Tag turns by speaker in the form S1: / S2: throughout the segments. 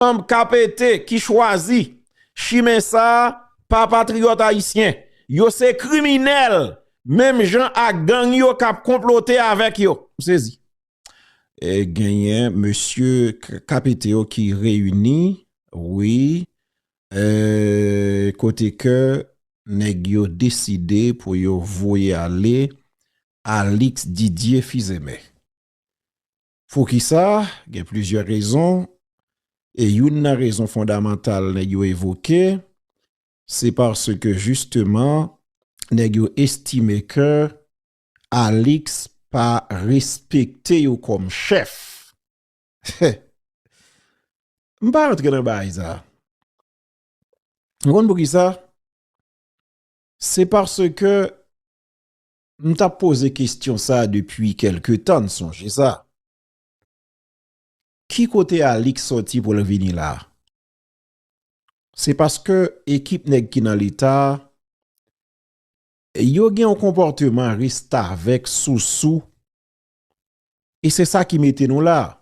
S1: Anb ka pete ki chwazi chimen sa pa patriyòt ayisyen. Yo se kriminèl menm jan ak gang yo k ap konplote avèk yo. M sezi. E genyen mesye ka pete yo ki reyini wi e kote ke nèg yo deside pou yo voye ale Alix Didier Fils-Aimé. Poukisa? Gen plizyè rezon, e youn nan rezon fondamantal nèg yo evoke, se paske jisteman nèg yo estime ke Alix pa respekte yo kòm chèf. M pa rantre nan bagay sa. Ou konn poukisa? Se paske M tap poze kestyon sa depi kelke tan n sonje sa. Ki kote Alix soti pou l vini la? Se paske ekip nèg ki nan leta a yo gen yon konpòteman restavèk sousou e se sa ki mete nou la.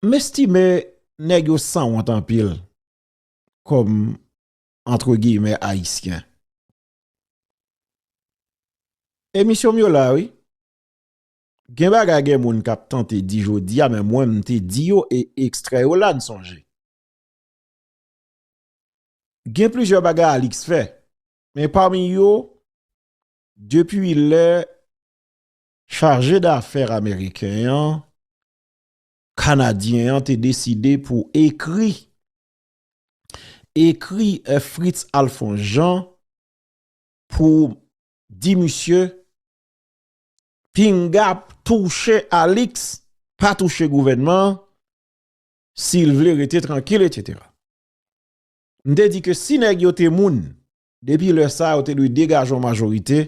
S1: M estime nèg yo sanwont anpil kòm antre giyimè ayisyen. Emisyon m yo la wi. Gen bagay gen moun k ap tante di jodi a men mwen m te di yo e ekstrè yo la n sonje. Gen plizyè bagay Alix fè men pami yo depi lè chaje dafè ameriken an kanadyen an te deside pou ekri ekri Fritz Alphonse Jean pou di misye pinga touche Alix pa touche gouvènman an si l vle rete trankil etc. M te di ke si nèg yo te moun depi lè sa yo te dwe degaje yon majorite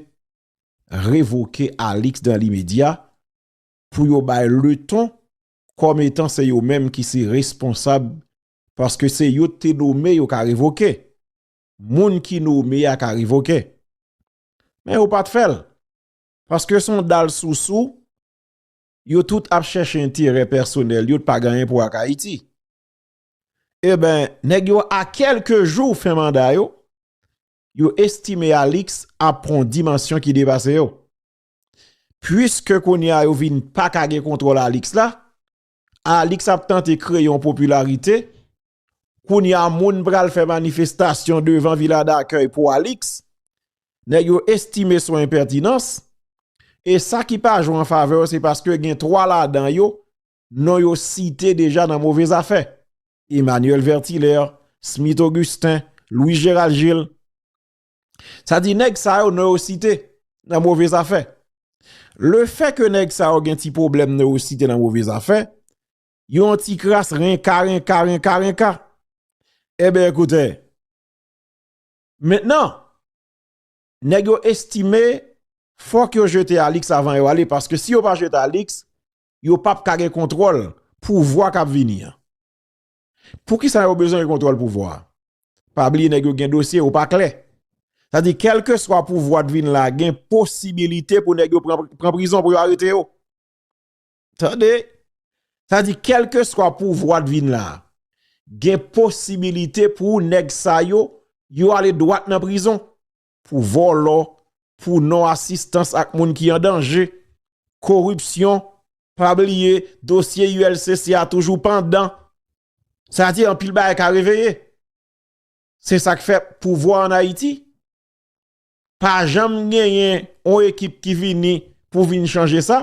S1: revoke Alix dan limedya pou yo bay le ton kòm etan se yo menm ki se responsab paske se yo te nome yo ka revoke moun ki nome ya ka revoke men yo pat fèl paske son dal sousou yo tout ap chèche enterè pèsonèl yo pa ganyen pou ak ayiti e ben nèg yo a kelke jou fè manda yo yo estime alix ap pran dimansyon ki depase yo pwiske kounye a yo vin pa ka gen kontwòl alix la Alix ap tante kreye yon popilarite, kounya moun pral fè manifestasyon devan vila dakèy pou Alix, nèg yo estime son enpètinans, e sa ki pa jwe an favè yo se paske gen 3 ladan yo, non yo site deja nan move zafè, Emmanuel Vertilaire, Smith Augustin, Louis Gérald Gilles. Sa di nèg sa yo nè yo site nan move zafè. Le fè ke nèg sa yo gen ti problem nè yo site nan move zafè, yon ti kras renka, renka, renka, renka. Ebe eh koute, mentenan, nèg yo estime fòk yo jete Alix avan yo ale, paske si yo pa jete Alix, yo pap kage kontrol pou vwa kap vini an. Poukisa yo bezwen gen kontwòl pouvwa? Pa bliye nèg yo gen dosye ou pa klè. Sa di kèlkeswa pouvwa t vin la gen posibilite pou nèg yo pran prizon pou yo arete yo. Tande! Sa di kèlkeswa pouvwa t vin la gen posibilite pou nèg sa yo yo ale dwat nan prizon. pou vòlò, pou non asistans ak moun ki an danje, koripsyon, pa bliye dosye ULCC a toujou pandan, sa vle di anpil bagay ka reveye. Se sa k fè pouvwa an Ayiti pa janm genyen yon ekip ki vini pou vin chanje sa,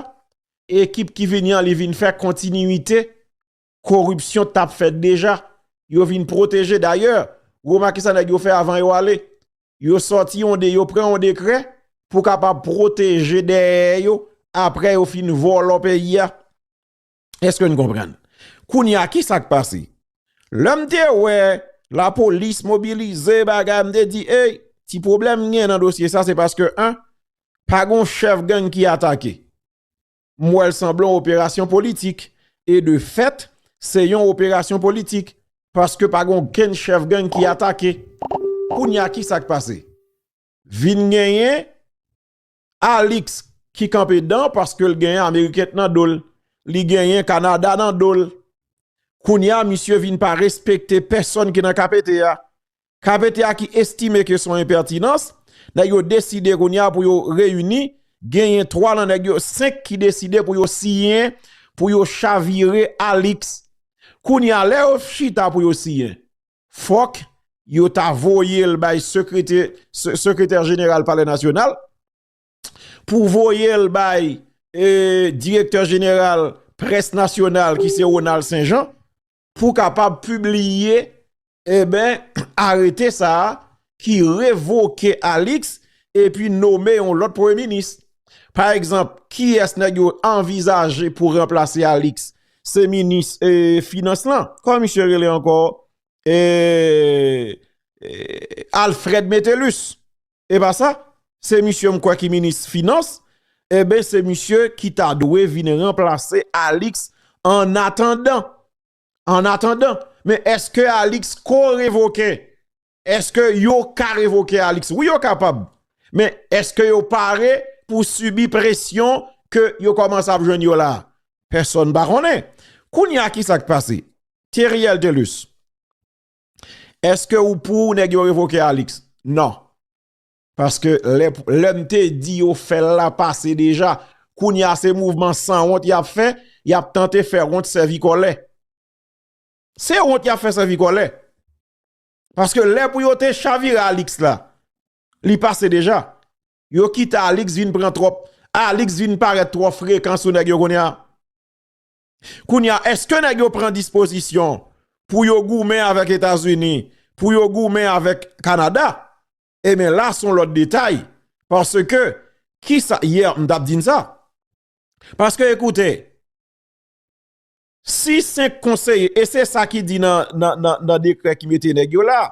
S1: ekip ki vini an li vin fè kontinite Koripsyon t ap fèt deja, yo vin pwoteje. Dayè, remake sa nèg yo fè avan yo ale. Yo sòti yon de, yo pran yon dekrè pou kapab pwoteje dèyè yo apre yo fin vòlò peyi a. Eske nou konprann? Kounye a, ki sa k pase? Lè m te wè lapolis mobilize bagay, m te di, ey, ti pwoblèm gen nan dosye sa, se paske, an, pa gon chèf gang ki atake. M wè l sanble yon operasyon politik. E de fèt, se yon operasyon politik. Paske pa gen okenn chèf gang ki atake. Kounye a, ki sa k pase? Vin genyen Alix ki kanpe dan paske l genyen Ameriken nan do l. Li genyen Kanada nan do l. Kounye a, misye vin pa respekte pèsòn ki nan KPT a. KPT a ki estime ke son enpètinans, nèg yo deside kounye a pou yo reyini, genyen 3 lan nèg yo, 5 ki deside pou yo siyen, pou yo chavire Alix. Kounye a lè yo chita pou yo siyen, fòk yo ta voye l bay sekretè jeneral palè nasyonal, pou voye l bay direktè jeneral près nasyonal ki se Ronald Saint Jean, pou kapab pibliye eben arete sa a ki revoke Alix epi nome yon lòt premye minis. Pa egzanp, kiyès nèg yo anvizaje pou ranplase Alix? Se minis finans lan. Kòman misye rele ankò? Eee Alfred Metellus. e pa sa se misye m kwè ki minis finans e ben se misye ki ta dwe vin ranplase Alix an atandan an atandan men eske Alix ko revoke eske yo ka revoke Alix wi yo kapab men eske yo pare pou subi presyon ke yo komanse ap jwenn yo la pèsòn pa konnen kounye a ki sak pase Thierry Eltelus. Eske ou pou nèg yo revoke Alix? Non. Paske lè m te di yo fè l la pase deja. Kounye a se mouvman san wont y ap fè, y ap tante fè wont sèvi kòlè. Se wont y ap fè sèvi kòlè. Paske lè pou yo te chavire Alix la, li pase deja. Yo kite Alix vin pran twòp, Alix vin parèt twò frekan sou nèg yo kounye a. Kounye a, èske nèg yo pran dispozisyon pou yo goumen avèk Etazini, pou yo goumen avèk Kanada? Eben la son lòt detay. Paske, ki sa, yè m tap di n sa. Paske ekoute, si 5 konseye, e se sa ki di nan dekrè ki mete nèg yo la,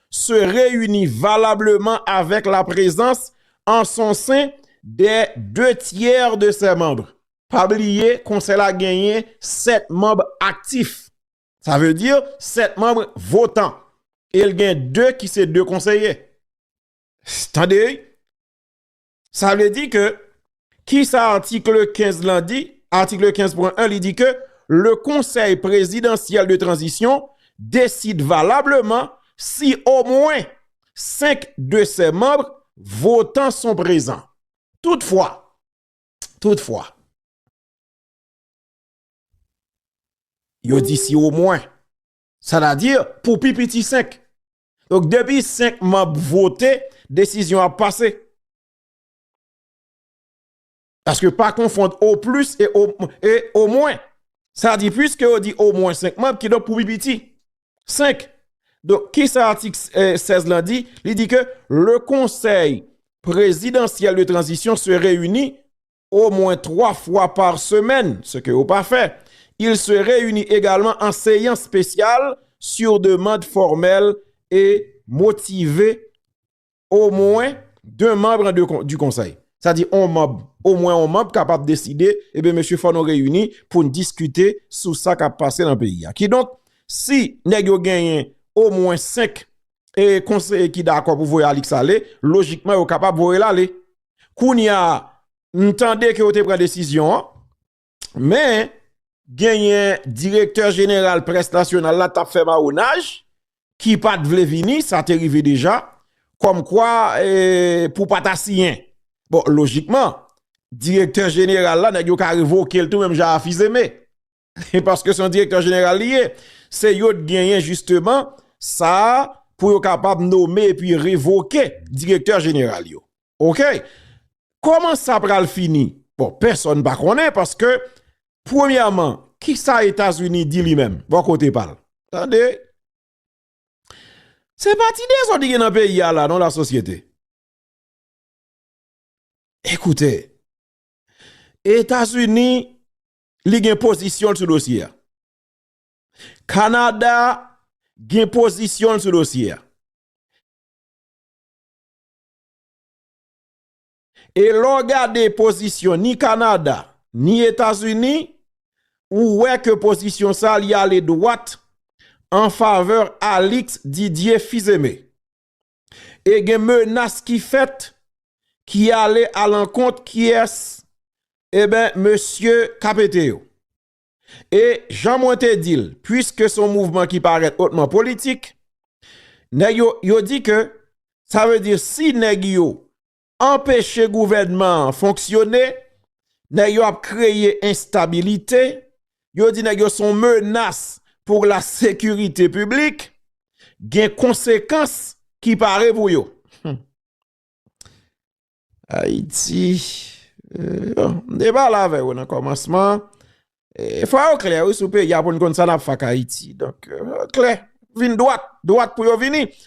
S1: se reyini valableman avèk la prezans an son sen dè de tyè de sè manb. Pa bliye konsèy la genyen sèt manb aktif, sa vle di sèt manb votan e l gen de ki se de konseye. Tande! Sa vle di ke, ki sa atikle 15 lan di? Atikle 15 pwen 1 li di ke, le konsèy prezidansyèl de tranzisyon deside valableman si o mwen 5 de sè manb votan son prezan. Tout fwa, tout fwa, yo di si o mwen, sa ta di pou pi piti 5. Donk depi 5 manb vote, desizyon ap pase. Paske pa konfond o plis e o mwen. Sa di pwiske yo di o mwen 5 manb ki donk pou pi piti. 5. Donk ki sa atik 16 lan di? Li di ke le konsey prezidansyel de tranzisyon se reyini au mwen 3 fwa par semèn, se ke yo pa fè. Il se reyini egalman an seyans spesyal sur demand formèl e motive au mwen 2 manbre du konsèy. Sa di on manb, au mwen on manb kapab deside, e ben mesye fò nou reyini pou n diskite sou sa kap pase nan peyi a. Ki donk, si nèg yo genyen au mwen 5 e konseye ki dakò pou voye Alix ale, lojikman yo kapab voye l ale. Kounya m tande ke yo te pran desizyon an, men genyen direktè jeneral près nasyonal la tap fè mawonaj ki pat vle vini, sa te rive deja, kòm kwa pou pa ta siyen. Bon, lojikman, direktè jeneral la nèk yo ka revoke l tou menm jan a Fils-Aimé. Paske se yon direktè jeneral li ye. Se yo t genyen jisteman sa pou yo kapab nome epi revoke direktè jeneral yo. Ok. Koman sa pral fini? Bon, pèsòn pa konnen paske premyèman, ki sa Etazini di li menm? Bon kote pa l. Tande. Se pa ti dezòd ki gen nan peyi a la non la sosyete. Ekoute, Etazini li gen pozisyon l sou dosye a. Kanada gen pozisyon l sou dosye a. E lè w gade pozisyon ni Kanada, ni Etazini, ou wè ke pozisyon sa li ale dwat an favè Alix Didier Fils-Aimé. e gen menas ki fèt ki ale alankont kiyès eben mesye kapete yo. E jan mwen te di l puiske son mouvman ki parèt otman politik nèg yo yo di ke sa ve di si nèg yo anpeche gouvènman an fonksyone, nèg yo ap kreye enstabilite, yo di nèg yo se yon menas pou la sekirite piblik, gen konsekans ki pare pou yo. Ayiti, m te pale avè ou nan kòmansman, fwa yo klè sou peyi a pou n konn sa n ap fè ak Ayiti, donk klè, vin dwat, dwat pou yo vini.